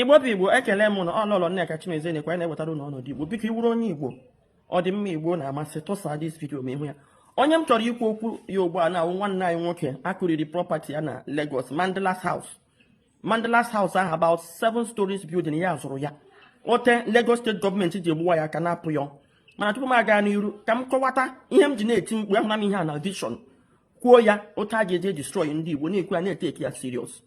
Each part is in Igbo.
igbo bụ igbo ekele m ụnụ ọ Lọlọ nneka chimezie na-ekwu anyị na-ewetara ụnụ ọnọdụ igbo biko ị wụrụ onye igbo ọdịmma igbo na-amasị tụsa this video ma ị hụ ya onye m chọrọ ikwu okwu ya ugbu a na-awụ nwanne anyị nwoke a kụriri property ya na Lagos Mandela's House Mandela's House ahụ about seven stories building ya zụrụ ya otu Lagos state government ji egbuwa ya aka na-apụ ya mana tupu m aga n'iru ka m kọwata ihe m ji na-eti mkpu ahụna m ihe a na vision kwuo ya otu a ga-eji destroy ndị Igbo na-ekwu ya na-eteki ya serious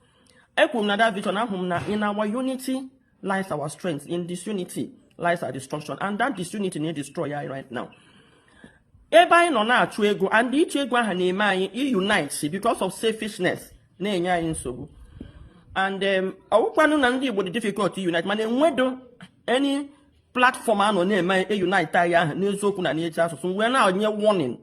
ekwuru m na that vision ahụ m na in our unity lies our strength in disunity lies our destruction and that disunity na-edestroy ya right now ebe anyị nọ na-achụ ego and ịchụ ego ahụ na-eme anyị iunite because of selfishness na-enye anyị nsogbu and um, ọ wụkwanụ na ndị Igbo dị difficult unite mana enwedo any platform a nọ na-eme unite anyị ahụ n'eziokwu na n'eji asụsụ wee na-enye warning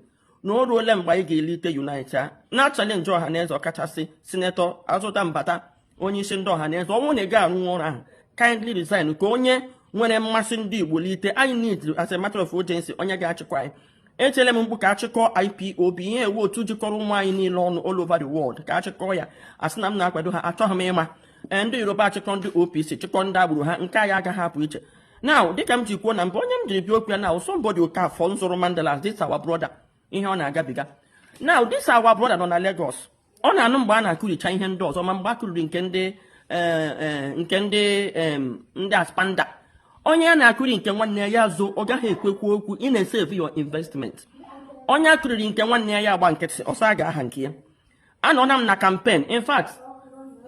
na o ruole mgbe anyị ga-elite unite a na-achalenji Ọhaneze ọkachasị Senator Azụta Mbata onye isi ndị Ọhaneze ọ wụ na ị gaghị arụ ọrụ ahụ kindly resign ka onye nwere mmasị ndị igbo lite anyị need as a matter of urgency onye ga-achịkọ anyị etiele m mkpu ka a chịkọ IPOB ihe a wụ otu jikọrọ ụmụ anyị niile ọnụ all over the world ka a chịkọ ya a sị na m na-akwado ha achọghị m ịma ee ndị yoruba achịkọ ndị OPC chịkọ ndị agbụrụ ha nke anyị agaghị apụ iche now dịka m ji kwuo na mbụ onye m jiri bịa okwu ya now somebody Okafọ nzụrụ Mandela's this our brother ihe ọ na-agabiga now this our brother nọ na Lagos ọ na-anụ mgbe a na-akụricha ihe ndị ọzọ ma mgbe a kụriri nke ndị eh, eh, nke ndị ndị aspanda onye a na-akụri nke nwanne ya zoo ọ gaghị ekwekwu okwu ị na-esevu your investment onye a kụriri nke nwanne ya agba nkịtị ọ sị a ga-aha nke ya anọna m na campaign in fact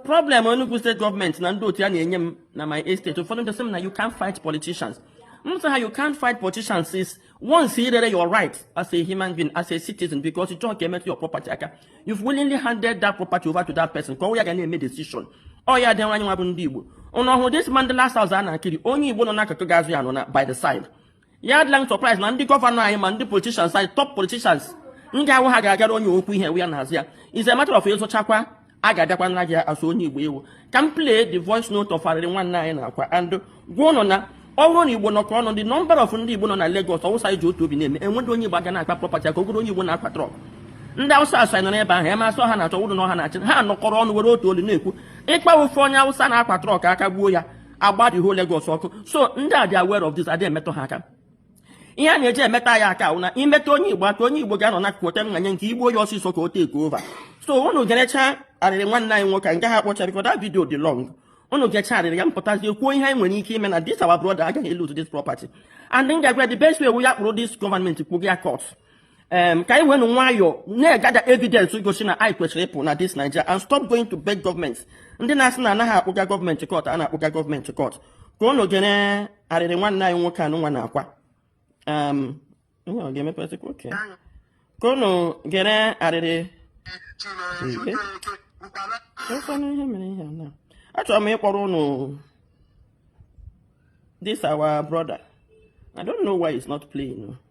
problem Enugu state government na ndị otu ya na-enye m na my estate ụfọdụ ndị sị m na you can't fight politicians m sị ha you can't fight politicians is once i rere your right as a human being as a citizen because ị chọghị ka e metụ your property aka you've willingly handed that property over to that person ka ọ wụ ya ga na-eme decision ọ ya dị anyị nwa bụ ndị Igbo ụnụ hụrụ this Mandela House a na-akụri onye Igbo nọ n'akụkụ ga-azụ ya nọ na by the side ya adịla m surprise na ndị gọvanọ anyị ma ndị politicians anyị top politicians ndị ahụ ha ga-agara onye okwu ihe ya na hazi ya is a matter of ị zụchakwa a ga-abịakwa naa gị asụ onye igbo ị wụ ka m play the voice note of arịrị nwanne anyị na-akwa and gwa ụnụ na ọ bụrụ na igbo nọkọ ọnụ the number of ndị igbo nọ na Lagos ọ wụ sị anyị ji otu obi na-eme enweghị onye igbo a ga na-akpa property ka ogoro onye igbo na-akwa trọk ndị awụsa asụ anyị nọ n'ebe ahụ ya masị ọha na-achọ wụrụ na ọ ha na-achị ha nọkọrọ ọnụ were otu olu na-ekwu ị kpa ofu onye awụsa na-akwa trọk aka gbuo ya a gbaa the whole Lagos ọkụ so ndị a dị aware of this adịghị emetụ ha aka ihe a na-eji emetụ anyị aka na ị metụ onye igbo aka onye igbo ga-anọ n'akụkụ ote nna nye ka e gbuo onye ọsịsọ ka o take over so unu gerecha arịrị nwanne anyị nwoke nke ha kpọcha because that video dị long unu gecha arịrị ya m pụtazie kwuo ihe anyị nwere ike ime na this our brother agaghị lose this property and m ga-agwa the best way wụ ya kpụrụ this government kpụga ya court um, ka anyị wenu nwayọọ na-egather evidence gosi na anyị kwesịrị ịpụ na this Nigeria and stop going to beg government ndị na-asị na anaghị akpụga government court a na-akpụga government court ka ụnụ gere arịrị nwanne anyị nwoke anụnwa na-akwa um, ihe ọ ga-emepesịkwa okay ka ụnụ gere arịrị ekwenụ ihe mere ihe a na achọrọ m ịkpọrọ ụnụ this our brother I don't know why it's not playing.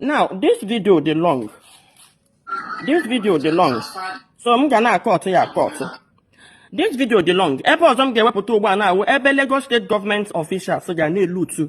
Now, this video dị long. This video dị long. So m ga na-akọtụ ya akọtụ. This video dị long. Ebe ọzọ m ga-ewepụta ugbu a na-awụ ebe Lagos State Government officials ga na-eloot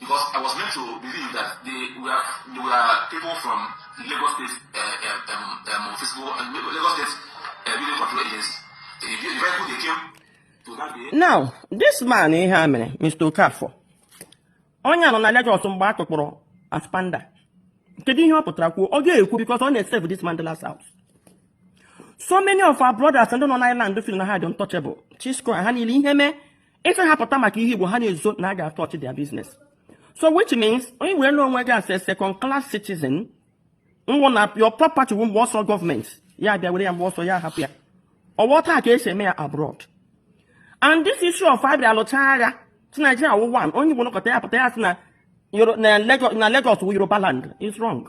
Because I was meant to believe that they were, they were people from Lagos State uh, um, um, um, physical, uh, Lagos State uh, Building Control Agency. The, the vehicle they came to that day. Now, this man ihe a mere, Mr. Okafor, onye nọ na Lagos mgbe a kụkpọrọ ASPAMDA. kedu ihe ọ pụtara kwuo ọ ga-ekwu because ọ na-esave this Mandilas house so many of our brothers ndị nọ n'Island feel na ha dị untouchable Chisco ha niile ihe mee ị sị ha pụta maka ihe Igbo ha na-ezo na a ga-atouch their business so which means i were onwe gị as a second class citizen nwụ na your property wụ mgbe ọ sọ government ya bịa were ya mgbe ọ sọ ya hapụ ya ọ wụ otu a ka e si eme ya abroad and this issue of a bịa alụcha agha sị Nigeria wụ one onye Igbo nọkọta ya pụta ya sị na Lagos wụ Yoruba land is wrong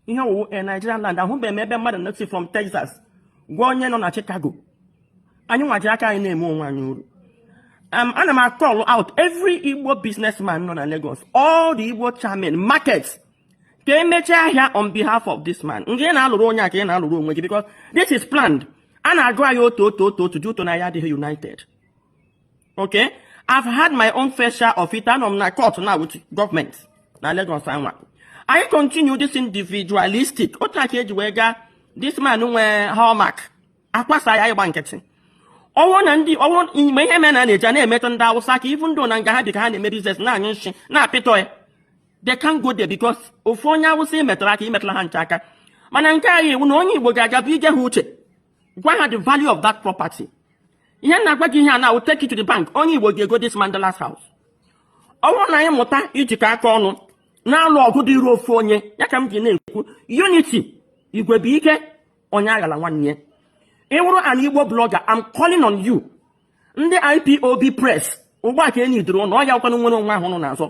ihe wụ a Nigerian land ahụbeghị m ebe mmadụ na-esi from Texas gwa onye nọ na Chicago anyị nwa ji aka anyị na-eme onwe anyị ụrụ um, ana m acall out every Igbo businessman nọ na Lagos all the Igbo chairmen market ka e mechie ahịa on behalf of this man nga ị na-alụrụ onye a ka ị na-alụrụ onwe gị because this is planned a na-agụ anyị otu otu otu otu due to na anyị adịghị united okay i've had my own fair share of it anọ m na court na with government na Lagos a nwa anyị continue this individualistic otu a ka e ji wee gaa this man nwe Hallmark akwasa ya ịgba nkịtị ọnwụ na ndị ọnwụ mgbe ihe mere na na-eji na-emetụ ndị Awụsa aka even though na nga ha bi ka ha na-eme business na-anyụ nshị na-apịtọ ya they can't go there because ofu onye Awụsa i metara aka i metara ha ncha aka mana nke anyị iwu na onye Igbo ga-aga bụ ige ha uche gwa ha the value of that property ihe m na-agwa gị ihe a na-awụ take it to the bank onye Igbo ga-ego this Mandilas house ọ wụrụ na anyị mụta ijikọ aka ọnụ na-alụ ọgụ dịịrị ofu onye ya ka m ji na-ekwu unity igwe bụ ike onye aghala nwanne ya ị wụrụ an Igbo blogger I'm calling on you ndị IPOB press ụgbọ aka enyi duru ụlọ ọ ya kwanụ nnwere onwe ahụ ụnụ na-azọ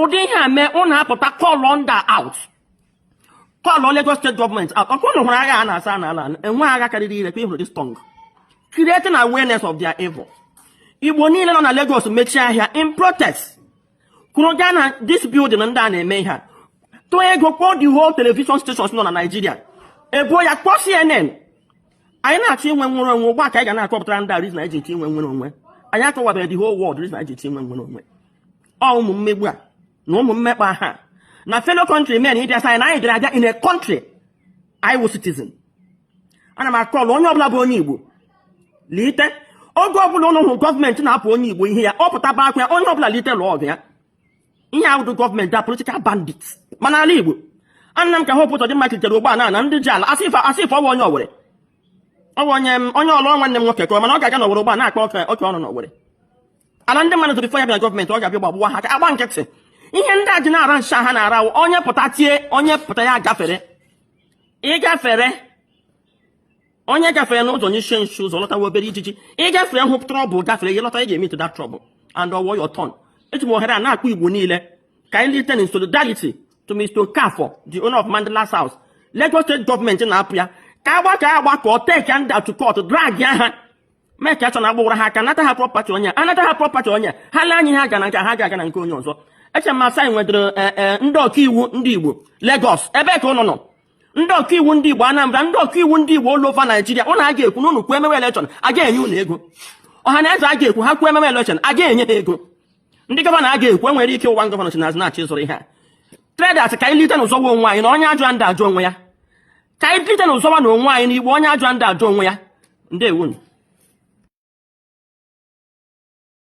ụdị ihe a mee ụnụ apụta call ndị a out call Lagos steeti gọọmenti out ọkwa ụnụ hụrụ agha a na-asa a n'ala enweghị agha karịrị ire ka ị hụrụ this tongue creating awareness of their evil igbo niile nọ na Lagos mechie ahịa in protest kwụrụ gaa na this building ndị a na-eme ihe a tụọ ego kpọọ the whole television stations nọ na Nigeria ebuo ya kpọọ CNN anyị na-achọ inwe nnwere onwe ugbu a ka anyị ga na-akọpụtara ndị a reason anyị ji eti inwe nnwere onwe anyị akọwabeghị the whole world reason anyị ji eti inwe nnwere onwe ọ ụmụ mmegbu a na ụmụ mmekpa ahụ a na fellow country men abịa sị anyị na anyị bịara abịa in a country anyị wụ citizen ana m akọlụ onye ọbụla bụ onye igbo lite oge ọbụla ụnụ hụrụ gọọmenti na-anapụ onye igbo ihe ya ọ pụtaba akwa ya onye ọbụla lite lụọ ọgụ ya ihe a awụghị gọọmenti a political bandit ma n'ala igbo anụ m ka Hope Ụzọdịmma kulitere ugbu a na-ana ndị ji ala as if as if ọ wụ onye Owere ọ wụ onye onye Ọlụ nwanne m nwoke kọọrọ m na ọ ga-aga n'owere ugbu a na-akpa oke oke ọnụ n'owere ala ndị mmadụ zụrụ before ya bịara gọọmenti ọ ga-abịa gbagbuwa ha ka a gba nkịtị ihe ndị a ji na-ara nshi ha na-ara wụ onye pụta tie onye pụta ị gafere ị gafere onye gafere n'ụzọ n'isi nshi ụzọ lọtawa obere ijiji ị gafere hụ trọbụl gafere ị lọta ị ga-emeetị that trọbụl and ọ wụọ your turn eji m ohere a na-akpọ igbo niile ka anyị lite in solidarity to Mr. Okafor the owner of Mandilas House Lagos steeti gọọmenti na-anapụ ya ka a gbakọọ agbakọ take ndị a to court drag ha make sure na agbawara ha aka nata ha prọpati onye anata ha prọpati onye ha lee anyị ha ga na nke ha ga-aga na nke onye ọzọ eche m na anyị nwetara e, e, ndị ọkaiwu ndị Igbo Lagos ebe ka ụnụ nọ ndị ọkaiwu ndị Igbo Anambra ndị ọkaiwu ndị Igbo all over Naijiria ụnụ a ga-ekwu na ụnụ kwuo emewe elekshọn a ga-enye ụnụ ego ọha na eze a ga-ekwu ha kwuo emewe elekshọn a ga-enye ha ego ndị gọvanọ a ga-ekwu enwere ike ọ wụ gọvanọ si n'azụ na-achọ ịzụrụ ihe a traders ka anyị lite nụ zọọ onwe anyị na onye ajụrụ anaghị ajụ onwe ya ka anyị lite nụ zọwa nụ onwe anyị ndị igbo onye ajụrụ anaghị ajụ onwe ya ndewonu